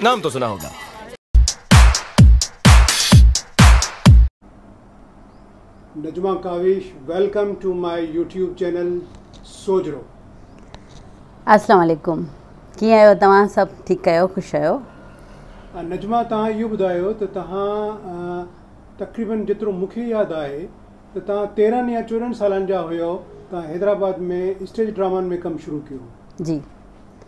نام تو سنا هوگا. نجمه ڪاوش ويلڪم ٽو ماء يوٽيوب چينل سوجهرو. اسلام عليڪم ڪيئن آهيو توهان سڀ ٺيڪ آهيو خوش آهيو. نجمه توهان اهو ٻڌايو ته توهان تقريبن جيترو مون کي ياد آهي ته توهان تيرهن يا چوڏهن سالن جا هيو توهان حيدرآباد ۾ اسٽيج ڊرامن ۾ ڪم شروع ڪيو. جي.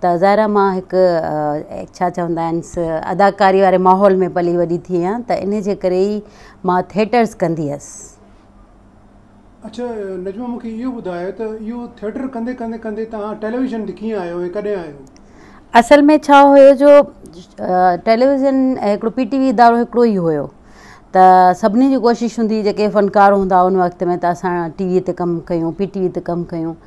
ته ظاهرا مان هڪ ڇا چوندا آهنس اداڪاري واري ماحول ۾ پلي وڏي ٿي آهيان ته ان جي ڪري ئي مان ٿيٽرس ڪندي هيس. اڇا نجمه مون کي اهو ٻڌاء ته اهو ٿيٽر ڪندي ڪندي ڪندي توهان ٽيليويزن تي ڪيئن آيو ۽ ڪڏهن آيو؟ اصل ۾ ڇا هيو جو ٽيليويزن هڪڙو پي ٽي وي ادارو هڪڙو ئي هيو ته سڀني جي ڪوشش هوندي هئي جيڪي فنڪار هوندا ان وقت ۾ ته اسان ٽي وي تي ڪم ڪيون پي ٽي وي تي ڪم ڪيون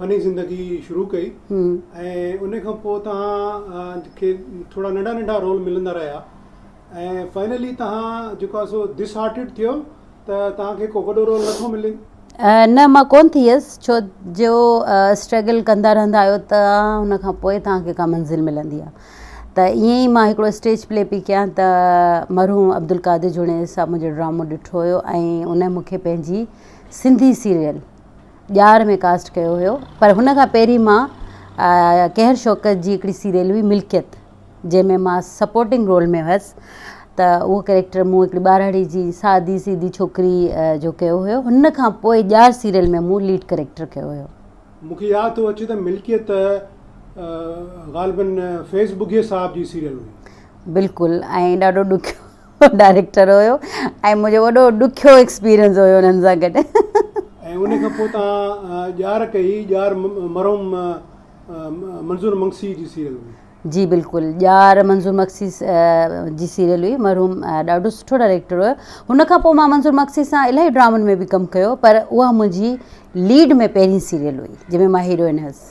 فني زندگي شروع ڪئي ۽ ان کان پوء توهان کي ٿورا ننڍا ننڍا رول ملندا رهيا ۽ فائنلي توهان جيڪو آهي سو ڊس هارٽيڊ ٿيو ته توهان کي ڪو وڏو رول نٿو ملي نه مان ڪون ٿي هيس ڇو جو اسٽرگل ڪندا رهندا آهيو ته ان کان پوء توهان کي ڪا منزل ملندي آهي ته ائين ئي مان هڪڙو اسٽيج پلي پي ڪيان ته مرحوم عبدالقادر جوڻيجي صاحب منهنجو ڊرامو ڏٺو هيو ۽ ان مون کي پنهنجي سنڌي سيريل ڄار ۾ ڪاسٽ ڪيو هيو پر هن کان پهرين مان قهر شوڪت جي هڪڙي سيريل هئي ملڪيت جنهن ۾ مان سپورٽنگ رول ۾ هيس ته اهو ڪريڪٽر مون هڪڙي ٻارڙي جي سادي سيدي ڇوڪري جو ڪيو هيو هن کان پوء ڄار سيريل ۾ مون ليڊ ڪريڪٽر ڪيو هيو. مون کي ياد ٿو اچي ته ملڪيت غالبن فيض ٻگهي صاحب جي سيريل هئي. بلڪل ۽ ڏاڍو ڏکيو هو ڊائريڪٽر هيو ۽ منهنجو وڏو ڏکيو ايڪسپيرينس هيو انهن سان گڏ. ۽ ان کان پوء تان ڄار ڪئي ڄار مرحوم منظور مگسي جي سيريل هئي. جي بلڪل ڄار منظور مگسي جي سيريل هئي مرحوم ڏاڍو سٺو ڊائريڪٽر هيو هن کان پوء مان منظور مگسي سان الاهي ڊرامن ۾ به ڪم ڪيو پر اها منهنجي ليڊ ۾ پهرين سيريل هئي جنهن ۾ مان هيروئن هيس.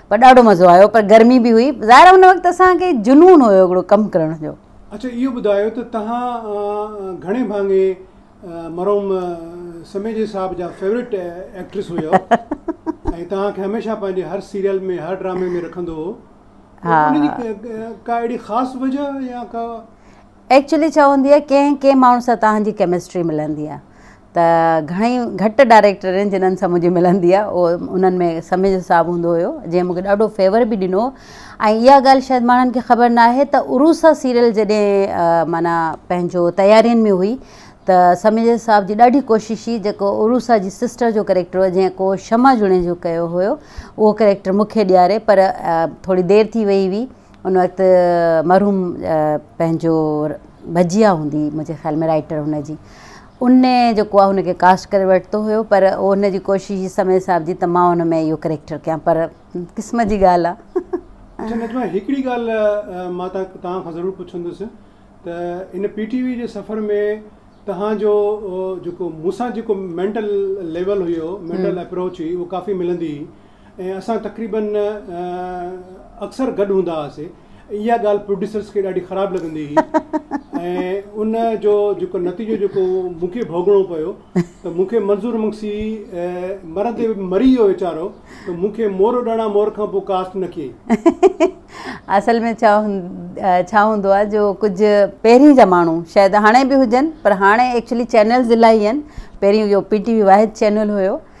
پر ڏاڍو مزو آيو پر گرمي به هئي ظاهر آهي ان وقت اسان کي جنون هيو هڪڙو ڪم ڪرڻ جو. اڇا اهو ٻڌايو ته تهان گهڻي ڀاڱي مرحوم سميجي صاحب جا فيورٽ ايڪٽرس هيو ۽ تهان کي هميشه پنهنجي هر سيريل ۾ هر ڊرامي ۾ رکندو هو ان جي ڪا اهڙي خاص وجه يا ڪا ايڪچولي ڇا هوندي آهي ڪنهن ڪنهن ماڻهو سان تهان جي ڪيمسٽري ملندي آهي ته گهڻئي گهٽ ڊائريڪٽر آهن جنھن سان منھنجي ملندي آهي اهو انھن ۾ سميجو صاحب هوندو هيو جنھن مونکي ڏاڍو فيور به ڏنو ۽ اها ڳالهه شايد ماڻھن کي خبر نه آهي ته عروسا سيريل جڏهن معنيٰ پنھنجو تيارين ۾ هئي ته سميجو صاحب جي ڏاڍي ڪوشش هئي جيڪو عروسا جي سسٽر جو ڪريڪٽر هو جنھن ڪو شمع جوڻيجو ڪيو هيو اهو ڪريڪٽر مونکي ڏياري پر ٿوري دير ٿي وئي هئي ان وقت مرحوم پنھنجو بجيا هوندي منھنجي خيال ۾ رائيٽر هن جي ان جيڪو آ هن کي ڪاسٽ ڪري ورتو هيو پر اهو هن جي ڪوشش هئي سميع صاحب جي ته مان هن ۾ اهو ڪريڪٽر ڪيان پر قسمت جي ڳالهه آ. اڇا نجمه هڪڙي ڳالهه مان توهان کان ضرور پڇندس ته هن پي ٽي وي جي سفر ۾ توهان جو جيڪو مون سان جيڪو مينٽل ليول هيو مينٽل اپروچ هئي اهو ڪافي ملندي هئي ۽ اسان تقريبن اڪثر گڏ هوندا هئاسي اها ڳالهه پروڊيوسرز کي ڏاڍي خراب لڳندي هئي ۽ ان جو جيڪو نتيجو جيڪو مون کي ڀوڳڻو پيو ته مون کي منظور مگسي مرندي مري ويو ويچارو ته مون کي مورو ڏاڻا مور کان پوء ڪاسٽ نه ڪيئي اصل ۾ ڇا ڇا هوندو آهي جو ڪجهه پهرين جا ماڻهو شايد هاڻي به هجن پر هاڻي ايڪچولي چينلز الاهي آهن پهرين اهو پي ٽي وي واحد چينل هيو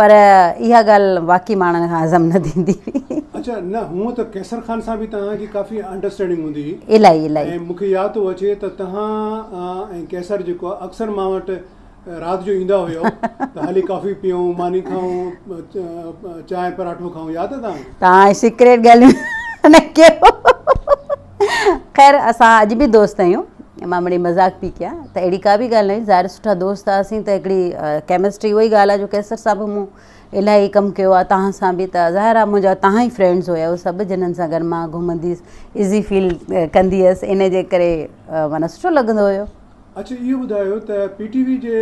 پر اها ڳالهه واقعي ماڻهن کان هضم نه ٿيندي هئي. اڇا نه هونء ته قيصر خان سان به توهان جي ڪافي انڊرسٽينڊنگ هوندي هئي. الائي الائي. ۽ مونکي ياد ٿو اچي ته توهان ۽ قيصر جيڪو آهي اڪثر مان وٽ رات جو ايندا هيؤ ته هلي ڪافي پيئون ماني کائون چانهه پراٺو کائون ياد آهي توهان کي. توهان سيڪريٽ ڳالهيون نه ڪيو. خير اسان اڄ به دوست آهيون مان مڙئي مذاق پي ڪيا ته اهڙي ڪا به ڳالهه ناهي ظاهر سٺا دوست هئاسين ته هڪڙي ڪيمسٽري اهو ئي ڳالهه آهي جو قيصر صاحب به مون الاهي ڪم ڪيو آهي تهان سان به ته ظاهر آهي منهنجا تهان ئي فرينڊز هيا اهي سڀ جنن سان گڏ مان گهمندي هيس ايزي فيل ڪندي هيس ان جي ڪري معنيٰ سٺو لڳندو هيو اڇا اهو ٻڌايو ته پي ٽي وي جي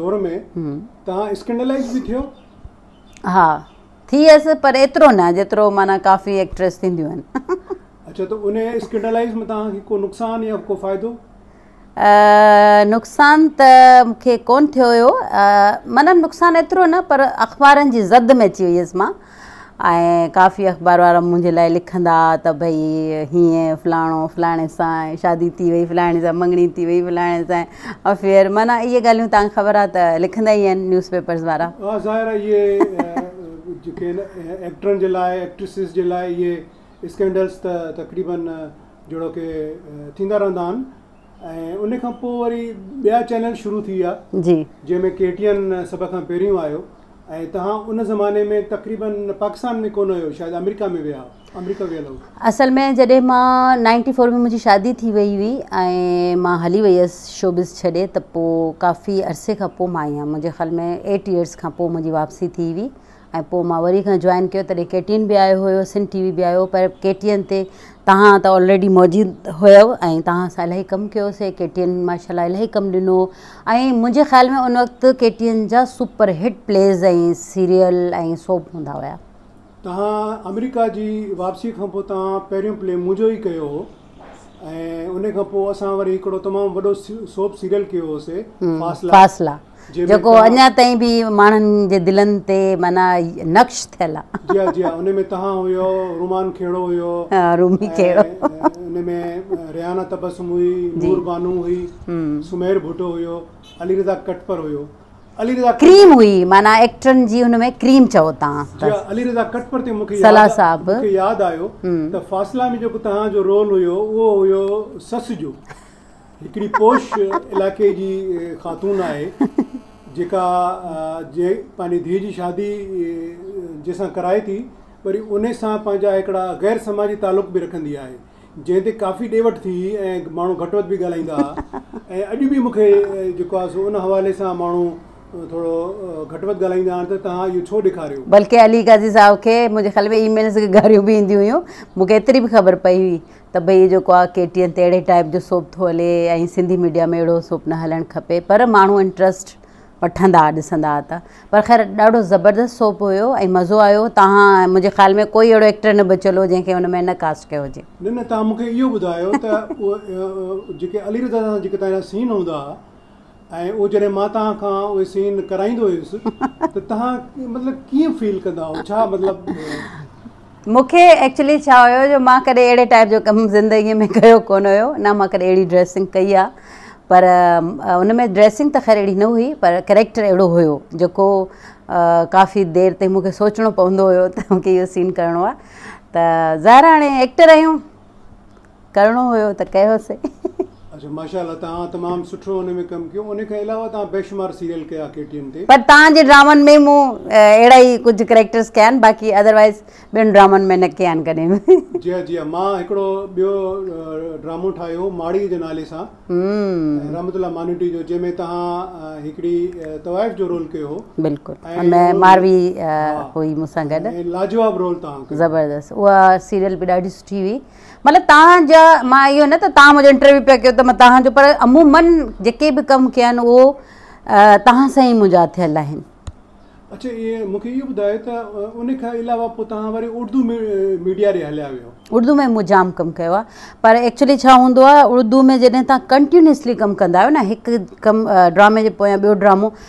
دور ۾ تهان اسڪينڊلائز به ٿيو ها ٿي هيس پر ايترو نه جيترو معنيٰ ڪافي ايڪٽريس ٿينديون آهن. اڇا ته انهي اسڪينڊلائيز مان توهان کي ڪو نقصان يا ڪو فائدو؟ نقصان ته مون کي ڪون ٿيو هيو معنيٰ نقصان ايترو نه پر اخبارن جي زد ۾ اچي وئي هيس مان ۽ ڪافي اخبار وارا منهنجي لاء لکندا ها ته ڀئي هيئن فلاڻو فلاڻي سان شادي ٿي وئي فلاڻي سان مڱڻي ٿي وئي فلاڻي سان افيئر معنيٰ اهي ڳالهيون تان خبر آ ته لکندا ئي آهن نيوز پيپرز وارا. ها ظاهر آ اهي جيڪي آهن ايڪٽرن جي لاء ايڪٽريسز جي لاء اهي اسڪينڊلز ته تقريباً جهڙوڪي ٿيندا رهندا آهن ۽ ان کان پوء وري ٻيا چينل شروع ٿي ويا جي جنهن ۾ ڪي ٽي اين سڀ کان پهريون آيو ۽ تهان ان زماني ۾ تقريباً پاڪستان ۾ ڪونه هيو شايد آمريڪا ۾ ويا هئا. اصل ۾ جڏهن مان نائنٽي فور ۾ منهنجي شادي ٿي وئي هئي ۽ مان هلي وئي هيس شوبز ڇڏي ته پوء ڪافي عرصي کان پوء مان آئي هيم منهنجي خيال ۾ ايٽ ايئرس کان پوء منهنجي واپسي ٿي هئي ۽ پوء مان وري کان جوائن ڪيو تڏهن ڪي ٽي اين بي آيو هيو سنڌ ٽي وي بي آيو پر ڪي ٽي اين تي تهان ته آلريڊي موجود هيو ۽ تهان سان الاهي ڪم ڪيوسي ڪي ٽي اين ماشاء الله الاهي ڪم ڏنو ۽ منهنجي خيال ۾ ان وقت ڪي ٽي اين جا super hit plays ۽ serial ۽ soap هوندا هيا تهان آمريڪا جي واپسي کان پوء تهان پهريون پلي منهنجو ئي ڪيو هو ۽ ان کان پوء اسان وري هڪڙو تمام وڏو سوپ سيريل ڪيو هو سي فاصلا فاصلا جيڪو اڃا تائين به ماڻهن جي دلن تي معنيٰ نقش ٿيل آ جي آ جي آ ان ۾ تهان هيو رومان کهڙو هيو ها رومي کهڙو ان ۾ ريحانه تبسم هئي نور بانو هئي سمير ڀٽو هيو علي رضا ڪٽپر هيو ڪريم هئي معنيٰ ايڪٽرن جي ان ۾ ڪريم چئو تان علي رضا ڪٽپر تي مونکي صلاح صاحب مونکي ياد آيو ته فاصلا ۾ جيڪو تهان جو رول هيو اهو هيو سس جو هڪڙي پوش علائقي جي خاتون آهي جيڪا جي پنهنجي ڌيء جي شادي جي سان ڪرائي ٿي وري انهي سان پنهنجا هڪڙا غير سماجي تعلق به رکندي آهي جنهن تي ڪافي ڏي وٺ ٿي هئي ۽ ماڻهو گهٽ وڌ به ڳالهائيندا هئا ۽ اڄ به مونکي جيڪو آهي سو ان حوالي سان ماڻهو ٿورو گهٽ وڌ ڳالهائيندا آهن ته توهان اهو ڇو ڏيکاريو. بلڪه علي قاضي صاحب کي منهنجي خيال ۾ اي ميلز کي گاريون به اينديون هيون. مونکي ايتري به خبر پئي هئي ته ڀئي جيڪو آهي ڪي ٽي اين تي اهڙي ٽائيپ جو سوپ ٿو هلي ۽ سنڌي ميڊيا ۾ اهڙو سوپ نه هلڻ کپي پر ماڻهو انٽرسٽ وٺندا ڏسندا ته پر خير ڏاڍو زبردست سوپ هيو ۽ مزو آيو تهان منهنجي خيال ۾ ڪوئي اهڙو ايڪٽر نه بچيل هو جنهن کي ان ۾ نه ڪاسٽ ڪيو هجي. نه نه تهان مونکي اهو ٻڌايو ته اهو جيڪي علي رضا سان جيڪي تهان جا سين هوندا ها ۽ اهو جڏهن مان تهان کان اهي سين ڪرائيندو هيس ته تهان مطلب ڪيئن فيل ڪندا هئو ڇا مطلب مون کي ايڪچولي ڇا هيو جو مان ڪڏهن اهڙي ٽائيپ جو ڪم زندگي ۾ ڪيو ڪونه هيو نه مان ڪڏهن اهڙي ڊريسنگ ڪئي آ پر ان ۾ ڊريسنگ ته خير اهڙي نه هئي پر ڪريڪٽر اهڙو هيو جيڪو ڪافي دير تائين مون کي سوچڻو پوندو هيو ته مون کي اهو سين ڪرڻو آ ته ظاهر آ هاڻي ايڪٽر آهيون ڪرڻو هيو ته ڪيوسين. اچا ماشا الله توهان تمام سٺو ان ۾ ڪم ڪيو ان کان علاوه توهان بيشمار سيريل ڪيا ڪي ٽي اين تي. پر توهان جي ڊرامن ۾ مون اهڙا ئي ڪجهه ڪريڪٽرس ڪيا آهن باقي اڌروائيز ٻين ڊرامن ۾ نه ڪيا آهن ڪڏهن به. جي ها جي ها مان هڪڙو ٻيو ڊرامو ٺاهيو هو ماڙي جي نالي سان رحمت الله مانوٽي جو جنهن ۾ توهان هڪڙي طوائف جو رول ڪيو هو بلڪل ان ۾ ماروي هئي مون سان گڏ لاجواب رول توهان ڪيو زبردست اها سيريل به ڏاڍي سٺي هئي. مطلب توهان جا مان اهو نه ته توهان منهنجو انٽرويو پيا ڪيو ته مان توهان جو پر عمومن جيڪي به ڪم ڪيا آهن اهو توهان سان ئي منهنجا ٿيل آهن. اڇا ايئن مونکي اهو ٻڌايو ته ان کان علاوه پوء توهان وري اردو ميڊيا ڏي هليا ويو. اردو ۾ مون جام ڪم ڪيو آهي پر ايڪچولي ڇا هوندو آهي اردو ۾ جڏهن توهان ڪنٽينيوسلي ڪم ڪندا آهيو نه هڪ ڪم ڊرامي جي پويان ٻيو ڊرامو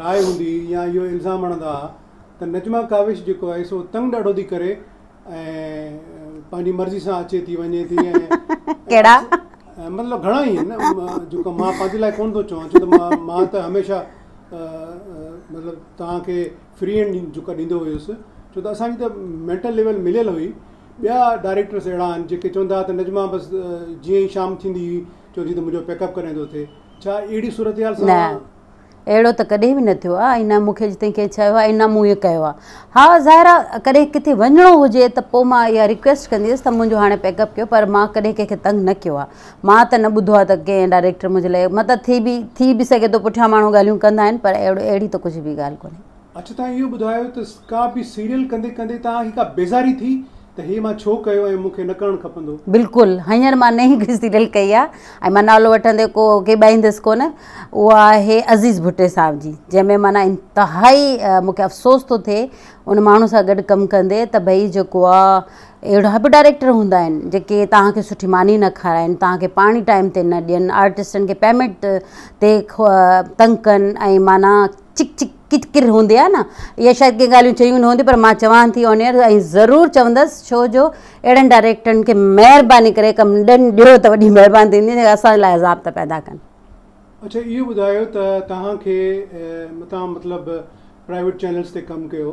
راء هوندي يا اهو الزام هڻندا ها ته نجمه ڪاوش جيڪو آهي سو تنگ ڏاڍو ٿي ڪري ۽ پنهنجي مرضي سان اچي ٿي وڃي ٿي ڪهڙا مطلب گهڻا ئي آهن جيڪو مان پنهنجي لاء ڪون ٿو چوان ڇو ته مان مان ته هميشه مطلب توهان کي فري هينڊ جيڪا ڏيندو هيس ڇو ته اسان جي ته مينٽل ليول مليل هئي ٻيا ڊائريڪٽرس اهڙا آهن جيڪي چوندا ها ته نجمه بس جيئن ئي شام ٿيندي هئي چوندي هئي ته منهنجو پيڪ اپ ڪڏهن ٿو ٿئي نه، اهڙو ته ڪڏهن به نه ٿيو آهي ۽ نه مون کي اڄ تائين ڪنهن چيو آهي ۽ نه مون ائين ڪيو آهي. ها ظاهر آهي ڪڏهن ڪٿي وڃڻو هجي ته پوء مان اها ريڪويسٽ ڪندي هيس ته منهنجو هاڻي پيڪ اپ ڪيو پر مان ڪڏهن ڪنهن کي تنگ نه ڪيو آهي. مان ته نه ٻڌو آهي ته ڪنهن ڊائريڪٽر منهنجي لاء مطلب ٿي به ٿي به سگهي ٿو پٺيان ماڻهو ڳالهيون ڪندا آهن پر اهڙي ته ڪجهه به ڳالهه ڪونهي. اڇا توهان اهو ٻڌايو ته ڪا به سيريل ڪندي ڪندي توهان کي ڪا بيزاري ٿي؟ ته هي مان ڇو ڪيو ۽ مون کي نه ڪرڻ کپندو. بلڪل هينئر مان نئين گهر جي ڊل ڪئي آ ۽ مان نالو وٺندي ڪو ڪيٻائيندس ڪونه اها آهي عزيز ڀٽي صاحب جي جنهن ۾ معنيٰ انتهائي مون کي افسوس ٿو ٿئي ان ماڻهو سان گڏ ڪم ڪندي ته ڀئي جيڪو آ اهڙا به ڊائريڪٽر هوندا آهن جيڪي توهان کي سٺي ماني نه کارائن توهان کي پاڻي ٽائيم تي نه ڏين آرٽسٽن کي پيمنٽ تي تنگ ڪن ۽ معنيٰ چڪ چڪ ڪچ ڪر هوندي آهي نه اها شايد ڪي ڳالهيون چيون نه هونديون پر مان چوان ٿي آن ايئر ۽ ضرور چوندس ڇو جو اهڙن ڊائريڪٽرن کي مهرباني ڪري ڪم ڏن ڏيو ته وڏي مهرباني ٿيندي جيڪي اسان لاء عذاب ٿا پيدا ڪن. اڇا اهو ٻڌايو ته توهان کي متان مطلب پرائيويٽ چينلز تي ڪم ڪيو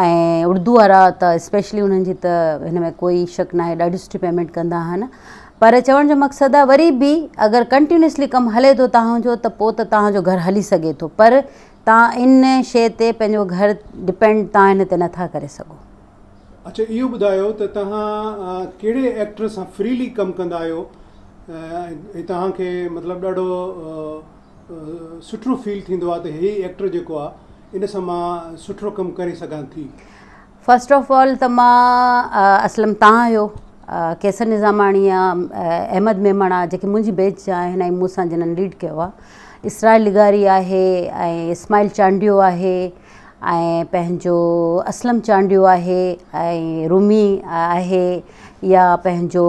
۽ اردو وارا ته اسپيشلي انهن جي ته هن ۾ ڪوئي شڪ ناهي ڏاڍي سٺي پيمنٽ ڪندا آهن پر چوڻ جو مقصد آهي وري به اگر ڪنٽينيوسلي ڪم هلي ٿو تهان جو ته پوء ته تهان جو گهر هلي سگهي ٿو پر تهان ان شئي تي پنهنجو گهر ڊپينڊ تهان ان تي نٿا ڪري سگهو. اڇا اهو ٻڌايو ته تهان ڪهڙي ايڪٽر سان فريلي ڪم ڪندا آهيو ۽ تهان کي مطلب ڏاڍو سٺو فيل ٿيندو آهي ته هي ايڪٽر جيڪو آهي ان سان مان سٺڙو ڪم ڪري سگهان ٿي. فرسٽ آف آل ته مان اسلم تان هيو قيصر نظاماڻي يا احمد ميمڻا جيڪي منهنجي بيچ جا آهن ۽ مون سان جنن ليڊ ڪيو آهي اسرائيل لغاري آهي ۽ اسماعيل چانڊيو آهي ۽ پنهنجو اسلم چانڊيو آهي ۽ رومي آهي يا پنهنجو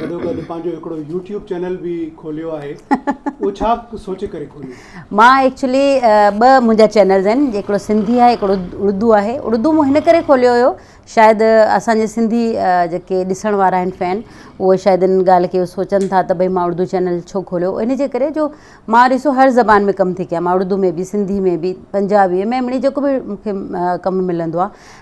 گڏو گڏ پنهنجو هڪڙو يوٽيوب چينل به کوليو آهي اهو ڇا سوچي ڪري کوليو مان ايڪچولي ٻه منهنجا چينلز آهن هڪڙو سنڌي آهي هڪڙو اردو آهي اردو مون هن ڪري کوليو هيو شايد اسان جي سنڌي جيڪي ڏسڻ وارا آهن فين اهو شايد ان ڳالهه کي سوچن ٿا ته ڀئي مان اردو چينل ڇو کوليو ان جي ڪري جو مان ڏسو هر زبان ۾ ڪم ٿي ڪيا مان اردو ۾ به سنڌي ۾ به پنجابي ۾ مڙئي جيڪو به مون کي ڪم ملندو آهي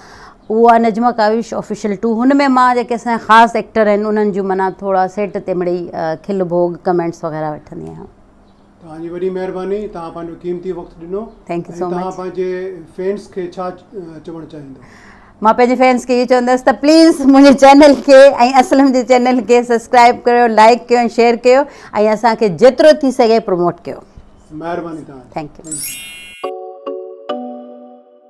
اهو آهي نجمه ڪاوش آفيشل ٽو هن ۾ مان جيڪي اسان جا خاص ايڪٽر آهن انهن جون معنيٰ ٿورا سيٽ تي مڙئي کل ڀوڳ ڪمينٽس وغيره وٺندي آهيان. توهان جي وڏي مهرباني توهان پنهنجو قيمتي وقت ڏنو ٿينڪ يو سو مچ ۽ توهان پنهنجي فينس کي ڇا چوڻ چاهيندو. مان پنهنجي فينس کي اهو چوندس ته پليز منهنجي چينل کي ۽ اسلم جي چينل کي سبسڪرائب ڪريو لائيڪ ڪيو ۽ شيئر ڪيو ۽ اسان کي جيترو ٿي سگهي پروموٽ ڪيو مهرباني توهان جي ٿينڪ يو.